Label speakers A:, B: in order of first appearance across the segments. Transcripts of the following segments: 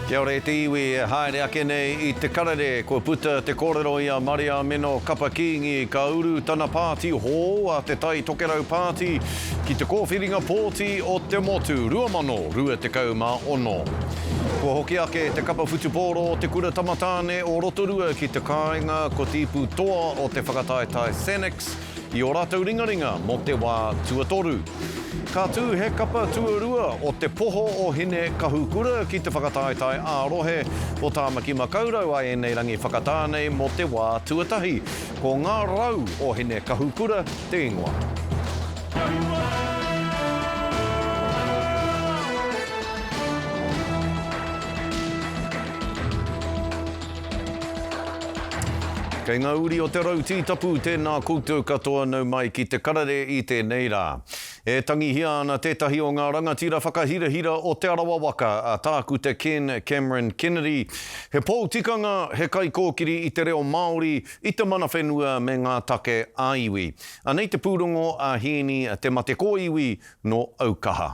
A: Kia ora e te iwi e haere ake nei i te karere kua puta te korero i a Mariamino Kapa Kingi ka uru tana pāti hou a te Tai Tokerau Pāti ki te kōwhiringa pōti o te Motu 2026. Kua hoki ake te kapa whutupōro o te Kura Tamatāne o Rotorua ki te kāinga ko Tīpu Toa o te Whakataetae Senex i ō rātou ringaringa mō te wā tuatoru. Ka tū he kapa tuarua o Te Poho o Hine-kahukura ki te whakataetae ā-rohe o Tāmaki Makaurau a ēnei rangi whakatā nei mō te wā tuatahi. Ko Ngā Rau o Hine-kahukura te ingoa. Kei ngā uri o te rau tītapu tēnā koutou katoa nau mai ki te karere i tēnei rā. E tangihia ana tētahi o ngā rangatira whakahirahira o Te Arawa waka, a Tākuta Ken Cameron Kennedy. He pou tikanga, he kaikōkiri i te reo Māori, i te mana whenua me ngā take ā-iwi. Anei te pūrongo a Hīni Te Mate Kōiwi nō Aukaha.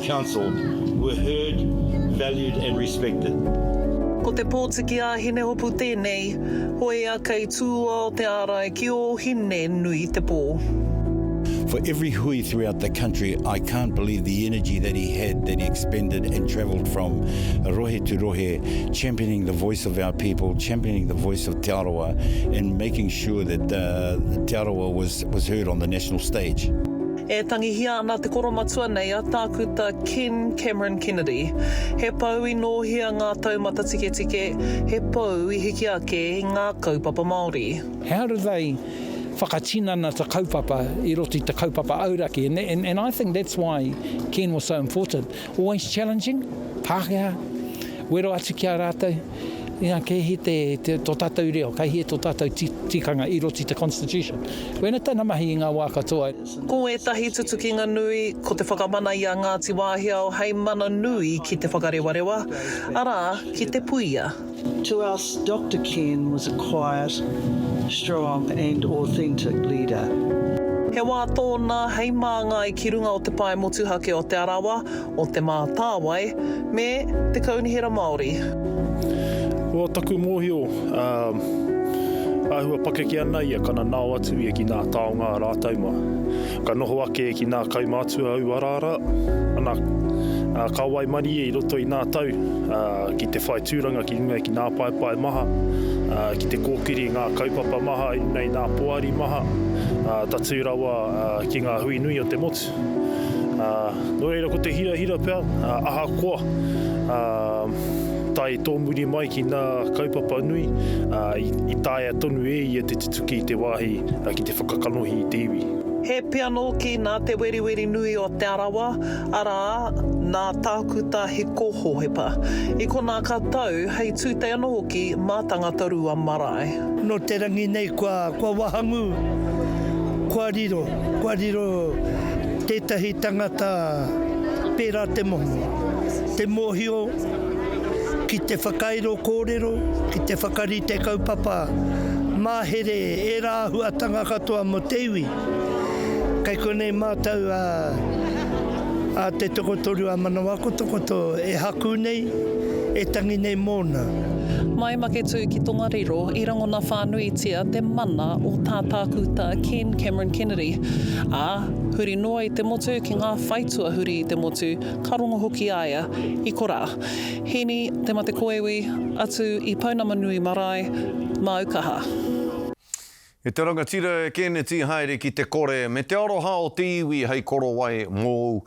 B: Council were heard, valued and respected. Ko te
C: pōtiki a Hinehopu tēnei, hoea kei tūoa o te ārai ki ō hine nui te pō. For
D: every hui throughout the country I can't believe the energy that he had that he expended and travelled from rohe to rohe championing the voice of our people championing the voice of Te Arawa and making sure that uh, Te Arawa was, was heard on the national stage. E tangihia
C: ana te koromatua nei a Tākuta Ken Cameron Kennedy. He pou i nōhia ngā taumata tiketike, he pou i hiki ake i ngā kaupapa Māori. He hāruwhai
E: whakatinana te kaupapa i roto i te kaupapa auraki and I think that's why Ken was so important. Always challenging, Pākehā, wero atu ki a rātou, i ngā kēhi te, te, tō tātou reo, kei hea tō tātou ti, tikanga i roto i te Constitution. Koina tana mahi i ngā wā katoa. Ko ētahi
C: tutukinga nui, ko te whakamana i a Ngāti Wāhiao hei mana nui ki te whakarewarewa, arā, ki te puia. To us,
F: Doctor Ken was a quiet, strong and authentic leader. He wā
C: tōna hei māngai ki runga o te pae motuhake o Te Arawa, o Te Mātāwai me Te Kaunihera Māori.
G: Ko taku mōhio, āhua pakeke ana ia kana nao atu ia ki ngā taonga rātau mā. Ka noho ake ki nā kaumātua aua araara, ana, ā, ka waimarie i roto i nā tau, ā, ki te whai tūranga ki runga i ki nā paepae maha, ā, ki te kōkiri i ngā kaupapa maha i runga i nā poari maha, ā, tatū rawa, ā, ki ngā hui nui o te motu. Ā, nō reira ko te hirahira pea, ā, ahakoa, ā, tae tōmuri mai ki nā kaupapa nui, ā, i, i taea tonu e ia te Tuki i te wāhi ki te whakakanohi i te iwi. He pia nōki
C: nā Te Weriwerinui o Te Arawa, arā, nā Tākuta Hiko Hohepa. I konā ka tau, hei tūtei anō hoki mā Tangata Rua Marae. Nō te rangi
H: nei kua wahangū, kua riro, kua riro tētahi tangata pērā te momo, te mōhio. ki te whakairo kōrero, ki te whakarite kaupapa mahere e ērā āhuatanga katoa mō te iwi. Kei konei mātou a, a Te Tokotoru a Manawakotokoto e haku nei, e tangi nei mōna. Mai Maketū
C: ki Tongariro i rangona whānuitia te mana o tā Tākuta Ken Cameron Kennedy, ā, huri noa i te motu ki ngā whai tuahuri i te motu, Ka rongo hoki a ia i korā. Hīni, te mate koiwi, atu i Pounamanui marae, māu kaha.
A: E te rangatira e kēneti haere ki te kore me te aroha o te iwi hei korowai mōu,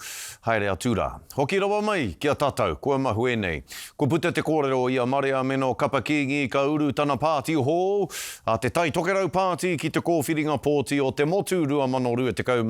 A: haere atu rā. Hoki rawa mai ki a tatau, kua mahue nei. Kua puta te kōrero i a Marea mena o Kapa Kingi ka uru tana pāti hou, a Te Tai Tokerau Pāti ki te kōwhiringa pōti o te motu 2026,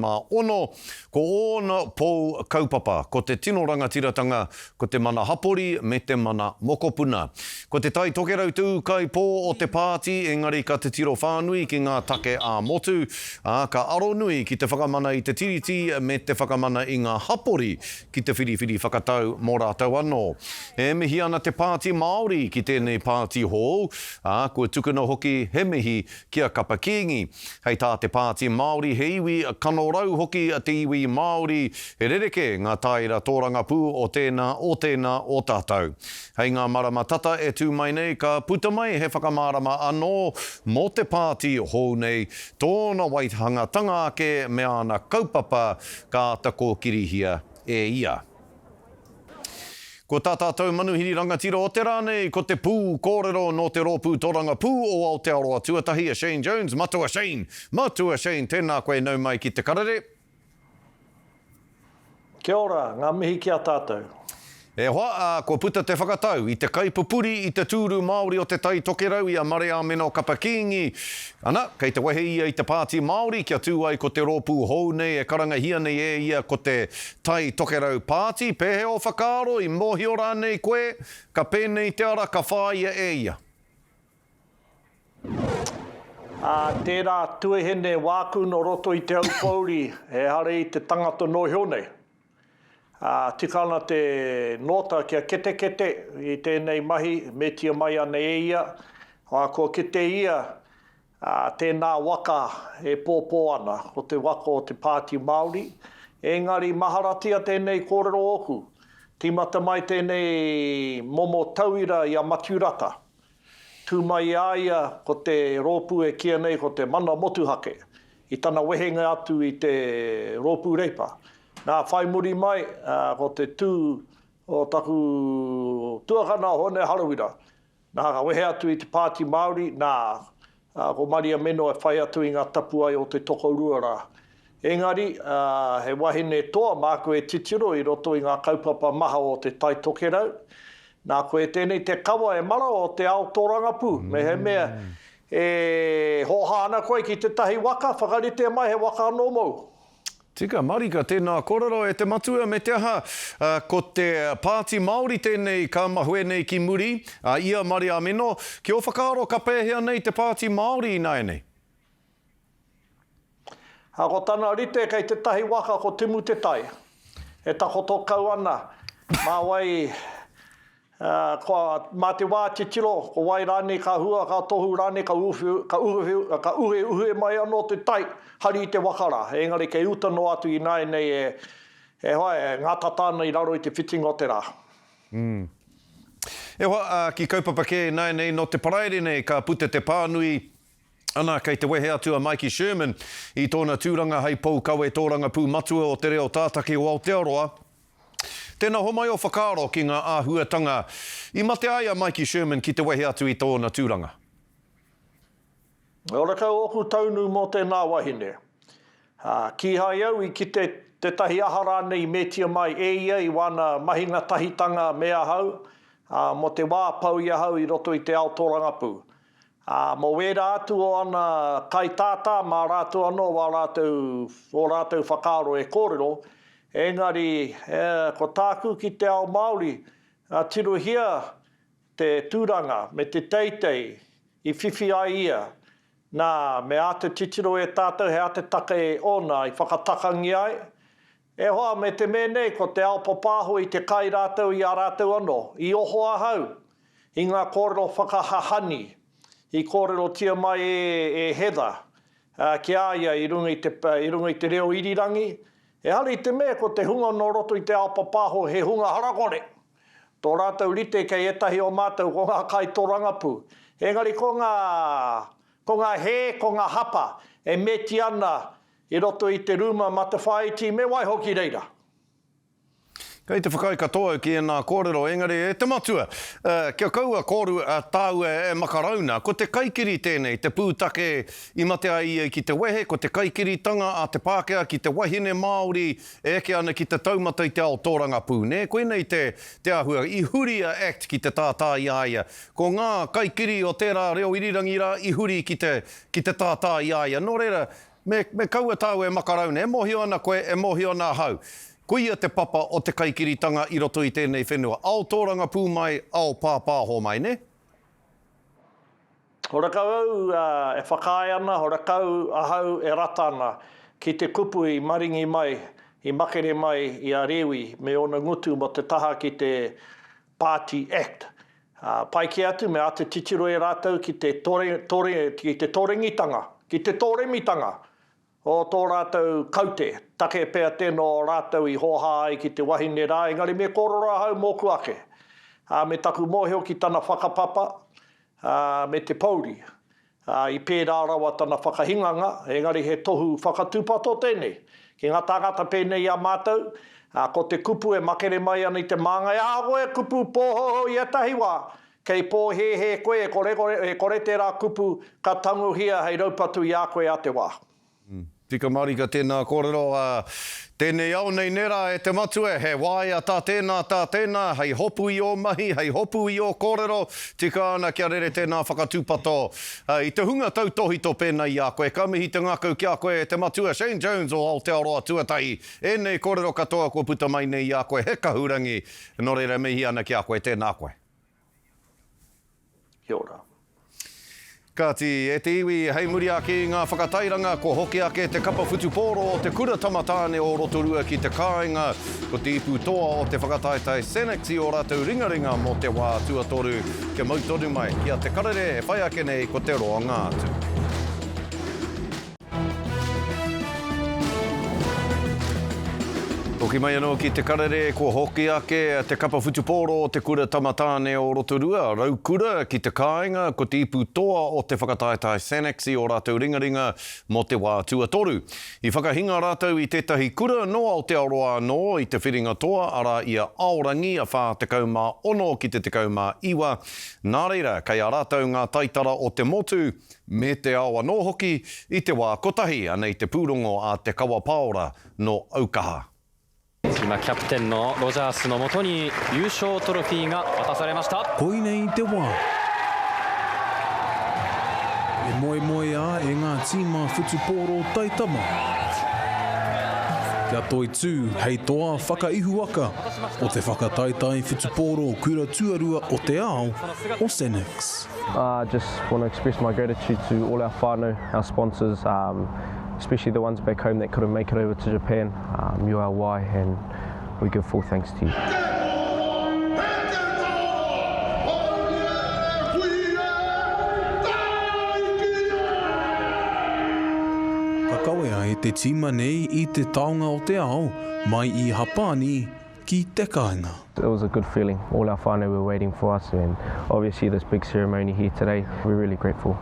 A: Ko ōna pou kaupapa, ko te tino rangatiratanga, ko te mana hapori me te mana mokopuna. Ko Te Tai Tokerau te ūkaipō o te pāti engari ka titiro whānui ki ngā take ā-motu, ā, ka aro nui ki te whakamana i te Tiriti me te whakamana i ngā hapori ki te whiriwhiri whakatau mō rātou anō. E mihi ana te Pāti Māori ki tēnei pāti hou, ā, kua tukuna hoki he mihi ki a Kapa Kīngi. Hei tā te Pāti Māori he iwi kanorau hoki te iwi Māori, he rerekē ngā tāera tōrangapū o tēnā, o tēnā, o tātou. Hei ngā marama tata e tū mai nei ka puta mai he whakamārama anō mō te pāti hou nei, tōna waihangatanga ake me āna kaupapa ka āta kōkirihia e ia. Ko tā tātou manuhiri rangatira o te rā nei, ko te pū kōrero nō te Rōpū Toranga Pū o Aotearoa Tuatahi a Shane Jones, Matua Shane! Matua Shane, tēnā koe nau mai ki te karere.
I: Kia ora, ngā mihi ki a tātou. E hoa,
A: ā, kua puta te whakatau i te kaipupuri i te tūru Māori o Te Tai Tokerau i a Mareāmeno Kapa Kīngi. Ana, kei te wehe ia i te pāti Māori kia tū ai ko te rōpū hou nei e karangahia nei e ia ko te Tai Tokerau Pāti, Pēhea ō whakaaro, i mōhio rānei koe, ka pēnei te ara ka whāia e ia?
I: Ā, tērā tuehene wāku nō roto i te aupōuri, ehara i te tangata nō iho nei. Ā, tika ana te nōta kia ketekete i tēnei mahi, metia mai ana e ia, ā, kua kite ia Ā, tēnā waka e pōpō ana, ko te waka o te Pāti Māori. Engari, maharatia tēnei kōrero ōku. Tīmata mai tēnei momo tauira i a Matiu Rata. Tū mai i a ia ko te rōpū e kīia nei ko te Mana Motuhake, i tana wehenga atu i te Rōpū Reipa. Nā, whai muri mai, ko te tū o taku tuakana, Hōne Harawira, Nā, ka wehe atu i te Pāti Māori, nā, ko Maria Meno e whai atu i ngā tapuwae o te tokorua rā. Engari, he wahine toa māku e titiro i roto i ngā kaupapa maha o Te Tai Tokerau. Nā, koe tēnei te kawa e mara o te ao tōrangapū, mehemea e hōhā ana koe ki tētahi waka, whakarite mai he waka anō mōu. Tika
A: marika, tēnā kōrero e te matua me te aha, ā, ko te Pāti Māori tēnei ka mahue nei ki muri, ā, i a Mariamino, ki ō whakaaro ka pēhea nei te Pāti Māori ināianei?
I: Ā, ko tana rite kei tētahi waka ko Timutetai, e takoto kau ana mā wai Ā, kua, mā te wā titiro, ko wai rānei ka hua, ka tohu rānei, ka uwhi, ka uwhi, ka uheuhe mai anō te tai, hari i te waka rā. Engari kei uta noa atu ināianei e, e hoa, e ngātata ana i raro i te whitinga o te rā. Umm.
A: E hoa, ā, ki kaupapa kē ināianei, nō te Paraire nei ka puta te pānui, Ana, kei te wehe atu a Maiki Sherman i tōna tūranga hei pou kawe tōrangapū matua o te reo tātaki o Aotearoa, Tēnā homai ō whakaaro ki ngā āhuatanga i mate ai a Maiki Sherman ki te wehe atu i tōna tūranga.
I: Ora kau ōku taunu mō tēnā wahine. Kīhai au i kite tētahi aha rānei i metia mai e ia i wāna mahinga tahitanga me ahau, ā, mō te wā pau i ahau i roto i te ao tōrangapū. Ā, mō wērā atu o ana kaitātā mā rātou anō wā rātou, ō rātou whakaaro e kōrero, engari, e, ko tāku ki te ao Māori, ā, tirohia te tūranga me te teitei i whiwhi ai ia, nā, me āta titiro e tātou he atatake ōna i whakatakangia ai, E hoa, me te me nei, ko te ao papāho i te kai rātou i a rātou anō. I oho ahau i ngā kōrero whakahahani i kōrerotia mai e, e Heather, ā, ki a ia i runga i te, i runga i te reo irirangi, ehara i te mea ko te hunga nō roto i te ao papāho he hunga harakore. Tō rātou rite kei ētahi o mātou ko ngā kaitōrangapū. Engari ko ngā, ko ngā hē, ko ngā hapa e meti ana I roto i te rūma matawhāiti me waiho ki reira.
A: Kei te whakaae katoa ki ēnā kōrero, engari e te matua, kia kaua kōru tāua e makarauna. Ko te kaikiri tēnei, te pūtake i mate ai ia ki te wehe, ko te kaikiritanga a te Pākehā ki te wahine Māori e eke ana ki te taumata i te ao tōrangapū. Nē, koinei te, te āhua. I huri a act ki te tātā i a ia. Ko ngā kaikiri o tērā reo irirangi rā i huri ki te, ki te tātā i a ia. Nō reira, Me, me kaua tāu e makaraune, e mōhio ana koe, e mōhio ana ahau. Koia te papa o te kaikiritanga i roto i tēnei whenua. Ao tōrangapū mai, ao pāpāho mai, nē?
I: Horekau au e whakaae ana, horekau ahau e rata ana ki te kupu i maringi mai, i makere mai i a Rewi me ōna ngutu mō te taha ki te Party Act. Pai kē atu me āta titiro e rātou ki te torengitanga, ki te tōremitanga o tō rātou kaute, take pea tēnō rātou i hōhā ai ki te wahine rā, engari me kōrero ahau mōku ake, ā, me taku mōhio ki tana whakapapa, ā, me te pōuri. ā, i pērā rawa tana whakahinganga, engari he tohu whakatūpato tēnei ki ngā tāngata pēnei i a mātou, ā, ko te kupu e makere mai ana i te māngai, ā, koe kupu pōhouhou i ētahi wā, kei pōhēhē koe e kore, e kore tērā kupu ka tangohia hei raupatu i a koe ā te wā. Tika
A: marika tēnā kōrero, ā, tēnei ao nei nērā e te Matua, he waea tā tēnā, tā tēnā, hei hopu i ō mahi, hei hopu i ō kōrero, tika ana kia rere tēnā whakatūpato i te hunga tautōhito pēnā i a koe. Ka mihi te ngākau ki a koe e te Matua, Shane Jones o Aotearoa Tuatahi, ēnei kōrero katoa kua puta mai nei i a koe, he kahurangi, nō reira e mihi ana ki a koe, tēnā koe.
I: Kia ora.
A: Kāti, e te iwi, hei muri ake i ngā whakatairanga kua hoki ake te kapa whutupōro o te Kura Tamatāne o Rotorua ki te kāinga, ko te ipu toa o te whakataetae Senex i ō rātou ringaringa mō te wā tuatoru, kia mau tonu mai ki a Te Karere e whai ake nei ko te roanga atu. Hoki mai anō ki Te Karere, kua hoki ake te kapa whutupōro o te Kura Tamatāne o Rotorua, Raukura, ki te kāinga, ko te ipu toa o te whakataetae Sanax i ō rātou ringaringa mō te wā tuatoru. I whakahinga rātou i tētahi kura nō Aotearoa anō i te whiringa toa, arā, i a Aorangi, a 46 ki te 19, nā reira, kei a rātou ngā taitara o te motu, me te ao anō hoki i te wā kotahi, anei te pūrongo a Te Kawa Paora nō Aukaha. Tuna Captain nō
J: Rogers nō moto ni Yūshō Toropī ga watasarimashita.
K: Koinei te wā. E moemoeā e ngā tīma whutupōro taitama kia toitū hei toa whakaihuwaka o te whakataetae whutupōro kura tuarua o te ao, o Senex. I just
L: want to express my gratitude to all our whānau, our sponsors, um, especially the ones back home that couldn't make it over to Japan. Um, you're our why and we give full thanks to you.
K: Ka kawea e te tīma nei i te taonga o te ao mai i Hapani ki te kāinga. It was a good feeling,
L: all our whānau were waiting for us and obviously this big ceremony here today, we're really grateful.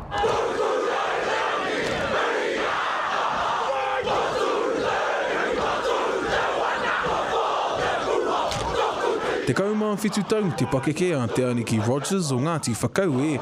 K: Tekau mā whitu tau te pakeke a Te Aniki Rogers o Ngāti Whakaue,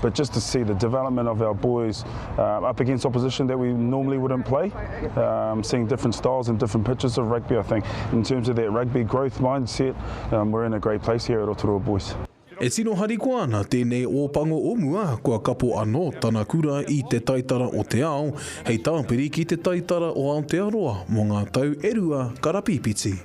M: but just to see the development of our boys uh, up against opposition that we normally wouldn't play, um, seeing different styles and different pitches of rugby, I think. In terms of that rugby growth mindset, um, we're in a great place here at Rotorua Boys. E tino harikoa
K: ana tēnei ōpango o mua kua kapo anō tana kura i te taitara o te ao hei tāpiri ki te taitara o Aotearoa mō ngā tau e rua karapīpiti.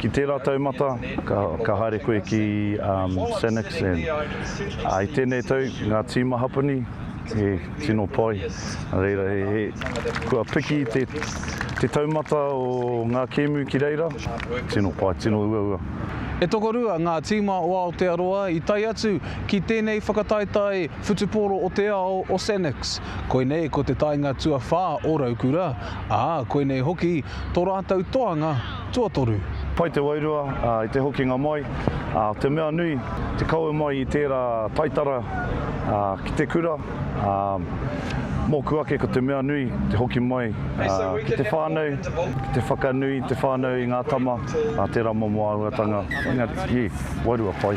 N: Ki tērā taumata, ka, ka haere koe ki, um, San X, and, ā, i tēnei tau, ngā tīma Hapani, he tino pai, nā reira, he, he, kua piki te, te taumata o ngā kēmu ki reira, tino pai, tino uaua. E tokorua
K: ngā tīma o Aotearoa i tae atu ki tēnei whakataetae whutupōro o te ao o San X. Koinei ko te taenga tuawhā o Raukura, ā, koinei hoki tō rātou toanga tuatoru. Pai te wairua
N: i te hokinga mai, te mea nui, te kawe mai i tērā taitara ki te kura, mōku ake ko te mea nui te hoki mai ki te whānau, ki te whakanui i te whānau i ngā tama, tērā momo āhuatanga, engari, ī, wairua pai.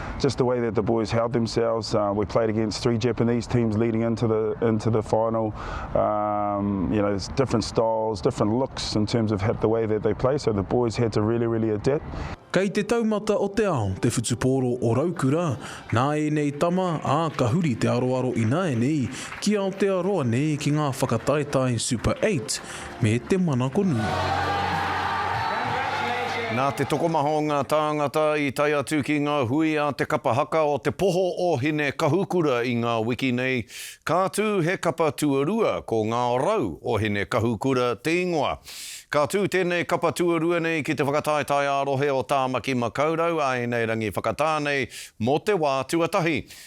L: just
M: the way that the boys held themselves. Uh, we played against three Japanese teams leading into the into the final. Um, you know, there's different styles, different looks in terms of the way that they play. So the boys had to really, really adapt. Kei te taumata
K: o te ao, te whutupōro o Raukura, nā ēnei tama, ā, ka huri te aroaro ināianei ki Aotearoa nei ki ngā whakataetae Super 8, me te manakonui. Nā te tokomaha o ngā tāngata i tae atu ki ngā hui a te kapa haka o Te Poho o Hinekahukura i ngā wiki nei, ka tū he kapa tuarua ko Ngā Rau o Hinekahukura te ingoa. Ka tū tēnei kapa tuarua nei ki te whakataetae ā-rohe o Tāmaki Makaurau, Āinairangi Whakatā nei mō te wā tuatahi.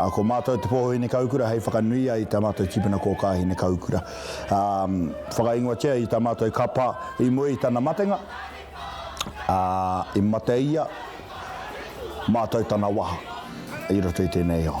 O: Ā, ko mātou te pōhōhine kaukura hei whakanui ai i tā mātou tīpuna kōkā hine kaukura. Ā, whakaingoatia i tā mātou kapa i mua i tana matenga, ā, i mate ia, mātou tana waha i roto i tēnei ao.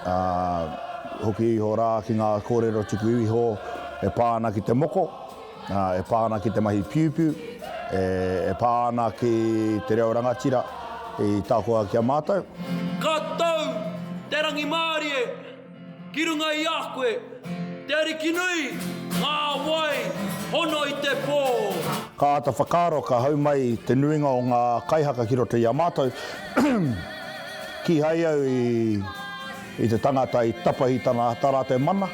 O: Ā, hoki iho rā ki ngā kōrero tuku iho e pā ana ki te moko, ā, e pā ana ki te mahi piupiu, e, e pā ana ki te reo rangatira i takoha ki a mātou. Ka tau
P: te rangimārie ki runga i a koe, te Ariki nui, ngā wai hono i te pō. Ka āta
O: whakaaro, ka hau mai te nuinga o ngā kaihaka ki roto i a mātou. Kīhai au i te tangata i tapahi tana tā rātou mana,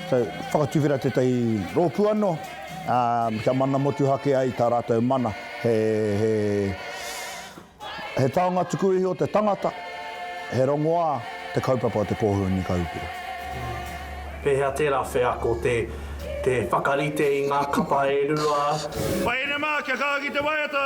O: so whakatuwhera tētahi rōpū anō, ā, kia mana motuhake ai tā rātou mana. He, he, he taonga tuku iho o te tangata, he rongoā te kaupapa o te Kōhuru Niu Kahurangi.
I: Pēhea tērā wheako te, te whakarite i ngā kapa e rua? Whainamā,
B: kia kaha ki te waiata.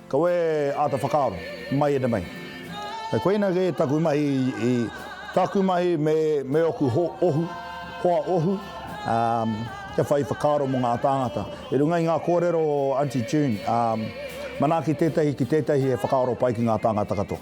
O: Kau e āta whakaaro, mai ere mai. Kei koina kē taku mahi i, taku mahi me, me oku ho, ohu, hoa ohu, ā, kia whai whakaaro mō ngā tāngata. I runga i ngā kōrero o Aunty June, ā, manaaki tētahi ki tētahi e whakaaro pai ki ngā tāngata katoa.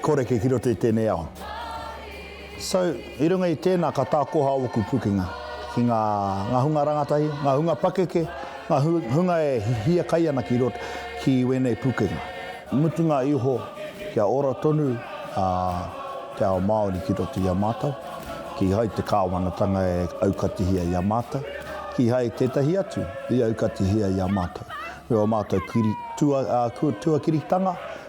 O: Koreke ki roto i tēnei ao. So, i runga i tēnā ka tākoha ōku pukenga ki ngā, ngā hunga rangatahi, ngā hunga pakeke, ngā hunga e hiakai ana ki roto, ki wēnei pukenga. I mutunga iho, kia ora tonu a te ao Māori ki roto i a mātou, kīhai te Kāwanatanga e aukatihia i a mātou, kīhai tētahi atu i aukatihia i a mātou, me ō mātou kiri, tua, ā, tuakiritanga,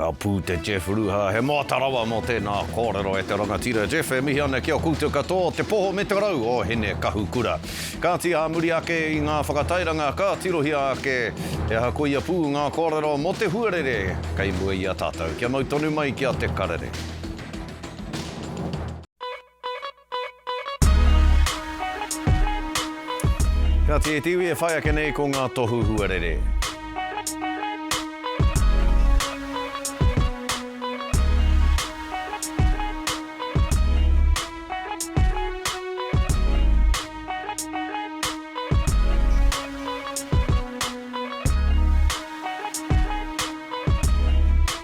A: Ka pū te Jeff Ruha, he moata rawa mō tēnā kōrero e te rangatira. Jeff, e mihi ana ki a koutou katoa, te poho me te rau o Hinekahukura. Kāti ā muri ake i ngā whakatairanga ka tirohia ake he aha koia pū ngā kōrero mō te huarere kei mua i a tātou. Kia mau tonu mai ki a Te Karere. Kāti e te iwi e whai ake nei ko ngā tohu huarere.